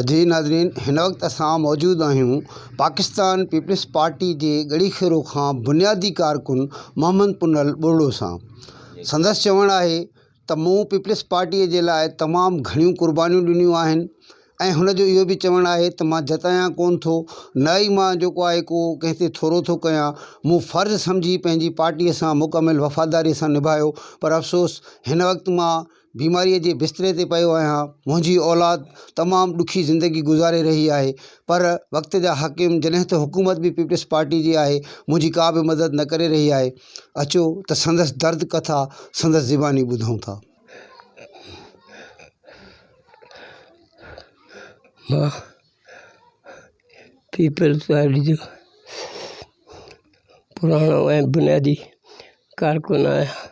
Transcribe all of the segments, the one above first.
جي ناظرين هن وقت اسان موجود آهيون پاڪستان پيپلز پارٽي جي ڳڙهي کيرو کان بنيادي ڪارڪن محمد پنهل ٻرڙو سان سندس چوڻ آهي ته مون پيپلز پارٽي جي لاء تمام گهڻيون قربانيون ڏنيون آهن ۽ هن جو اهو به چوڻ آهي ته مان جتايان ڪون ٿو نه ئي مان جيڪو آهي ڪو ڪنهن تي ٿورو ٿو ڪيان مون فرض سمجهي پنهنجي پارٽي سان مڪمل وفاداري سان نڀايو پر افسوس هن وقت مان بيماريء جي بستري تي پيو آهيان. منهنجي اولاد تمام ڏکي زندگي گذاري رهي آهي، پر وقت جا حاڪم جڏهن ته حڪومت به پيپلز پارٽي جي آهي، منهنجي ڪا به مدد نه ڪري رهي آهي. اچو ته سندس درد ڪٿا سندس زباني ٻڌون ٿا. مان پيپلز پارٽي جو پراڻو ۽ بنيادي ڪارڪن آهيان.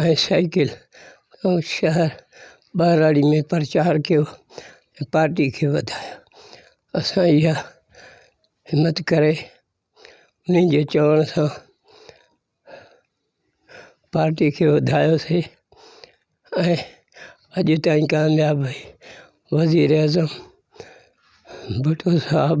۽ سائيڪل ۽ شهر ٻهراڙي ۾ پرچار ڪيو ۽ پارٽي کي وڌايو اسان اها همت ڪري انهن جي چوڻ سان پارٽي کي وڌايوسي ۽ اڄ تائين ڪامياب وزيراعظم ڀٽو صاحب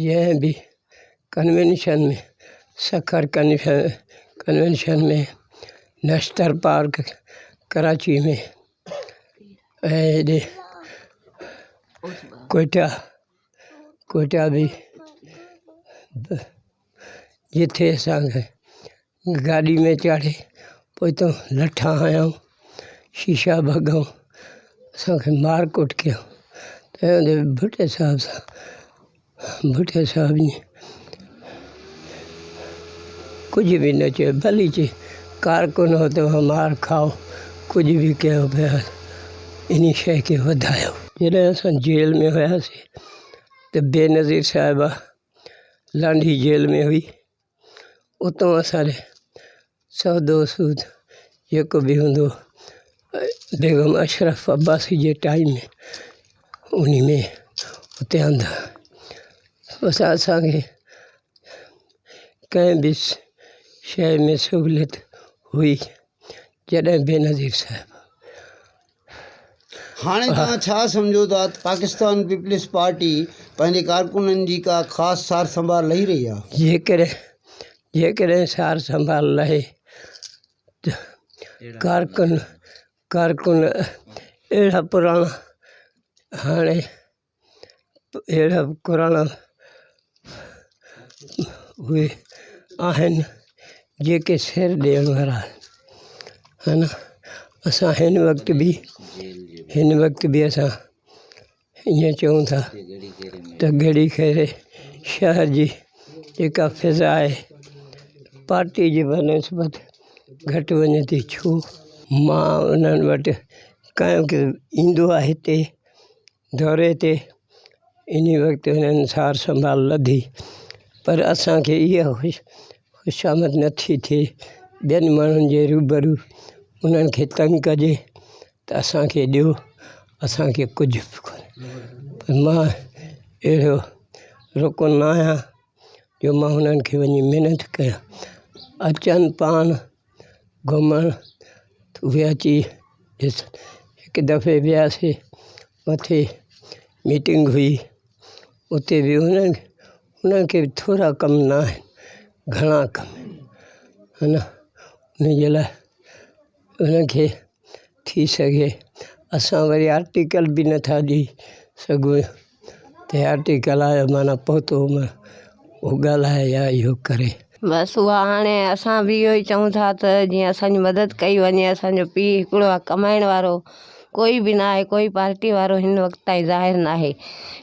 جنهن به convention ۾ Sukkur convention ۾ Nishtar park Karachi ۾ ۽ هيڏي ڪوئيٽا ڪوئيٽا به جتي اسان گاڏي ۾ چاڙهي پوئتان لٺا هنيا شيشا ڀڳا اسانکي مار ڪٽ ڪيا چيائون ته ڀٽي صاحب سان ڀٽي صاحب ائين ڪجهه به نه چيو ڀلي چي ڪارڪن هو تو کان مار کائو ڪجهه به ڪيو بهرحال ان شيء کي وڌايو جڏهن اسان جيل ۾ هياسين ته بينظير صاحبه لانڍي جيل ۾ هئي اتان اسان جو سودو سود جيڪو به هوندو بيگم اشرف عباسي جي ٽائيم ۾ ان ۾ اتي هنڌ بس اسانکي ڪنهن به شيء ۾ سهوليت هئي جڏهن بينظير صاحب هاڻي توهان ڇا سمجهو ٿا ته پاڪستان پيپلز پارٽي پنهنجي ڪارڪنن جي ڪا خاص سار سنڀال لهي رهي آهي؟ جيڪڏهن سار سنڀال لهي ته ڪارڪن اهڙا پراڻا هاڻي اهڙا به قرآن اهي آهن جيڪي سير ڏيڻ وارا آهن اسان هن وقت به هن وقت به اسان ائين چئون ٿا ته گهڙي خيري شهر جي جيڪا فضا آهي پارٽي جي بنسبت گهٽ وڃي ٿي ڇو مان انهن وٽ ڪنهن وقت ايندو آهي هتي دوري تي ان وقت هنن سار سنڀال لڌي پر اسان کي اها خوشامد نه ٿي ٿئي ٻين ماڻهن جي روبرو انهن کي تنگ ڪجي ته اسان کي ڏيو اسان کي ڪجهه به ڪونهي پر مان اهڙو رڪن نه آهيان جو مان هنن کي وڃي منٿ ڪيان اچن پاڻ گهمڻ اهي اچي ڏسن هڪ دفعي وياسين مٿي ميٽنگ هئي اتي به انهن کي ٿورا ڪم نه آهن گهڻا ڪم آهن ان جي لاء انهن کي ٿي سگهي اسان وري آرٽيڪل به نٿا ڏئي سگهون ته آرٽيڪل آيو معنيٰ پهتو هومس اهو ڳالهائي يا اهو ڪري. بس اها هاڻي اسان به اهو ئي چئون ٿا ته جيئن اسانجي مدد ڪئي وڃي اسانجو پيء هڪڙو آهي ڪمائڻ وارو ڪوئي به ناهي ڪوئي پارٽي وارو هن وقت تائين ظاهر ناهي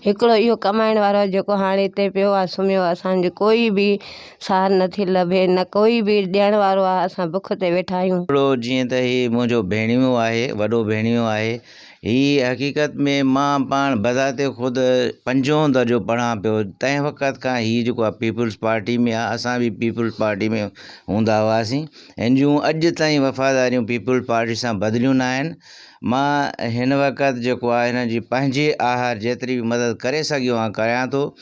هڪڙو اهو ڪمائڻ وارو آهي جيڪو هاڻي هتي پيو آهي سمهيو آهي اسانجي ڪوئي به ساهه نه ٿي لڀي، نه ڪوئي به ڏيڻ وارو آ، اسان بک تي ويٺا آهيون. هڪڙو جيئن ته هي منهنجو ڀيڻيو آهي، وڏو ڀيڻيو آهي. هي حقيقت ۾ مان پاڻ بذات خود پنجون درجو پڙهان پيو، تنهن وقت کان هي جيڪو آ پيپلز پارٽي ۾ آ، اسان به پيپلز پارٽي ۾ هوندا هئاسين، هن جون اڄ تائين وفاداريون پيپلز پارٽي سان بدليون ناهن، مان هن وقت جيڪو آ هن جي پنهنجي آهر جيتري به مدد ڪري سگهيو آ ڪريان ٿو.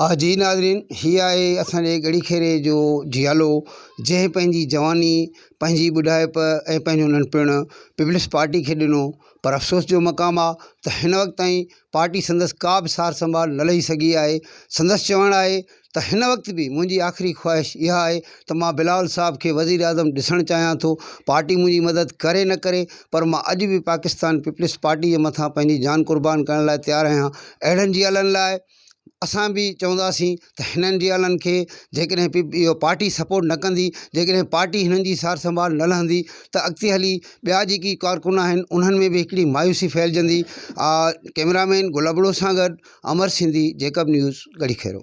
آه جي ناظرين هي آهي اسان جي ڳڙهي خيري جو جيالو جنهن پنهنجي جواني پنهنجي ٻڍائپ ۽ پنهنجو ننڍپڻ پيپلز پارٽي کي ڏنو پر افسوس جو مقام آهي ته هن وقت تائين پارٽي سندس ڪا به سار سنڀال نه لهي سگهي آهي سندس چوڻ آهي ته هن وقت به منهنجي آخري خواهش اها آهي ته مان بلاول صاحب کي وزيراعظم ڏسڻ چاهيان ٿو پارٽي منهنجي مدد ڪري نه ڪري پر مان اڄ به پاڪستان پيپلز پارٽي جي مٿان پنهنجي جان قربان ڪرڻ لاء تيار آهيان اهڙن جيالن لاء اسان به چونداسين ته هنن ريالن کي جيڪڏهن اهو پارٽي سپورٽ نه ڪندي جيڪڏهن پارٽي هنن جي سار سنڀال نه لهندي ته اڳتي هلي ٻيا جيڪي ڪارڪن آهن انهن ۾ به هڪڙي مايوسي ڦهلجندي ڪئميرا مين گل ابڙو سان گڏ امر سنڌي جيڪب نيوز ڳڙهي کيرو.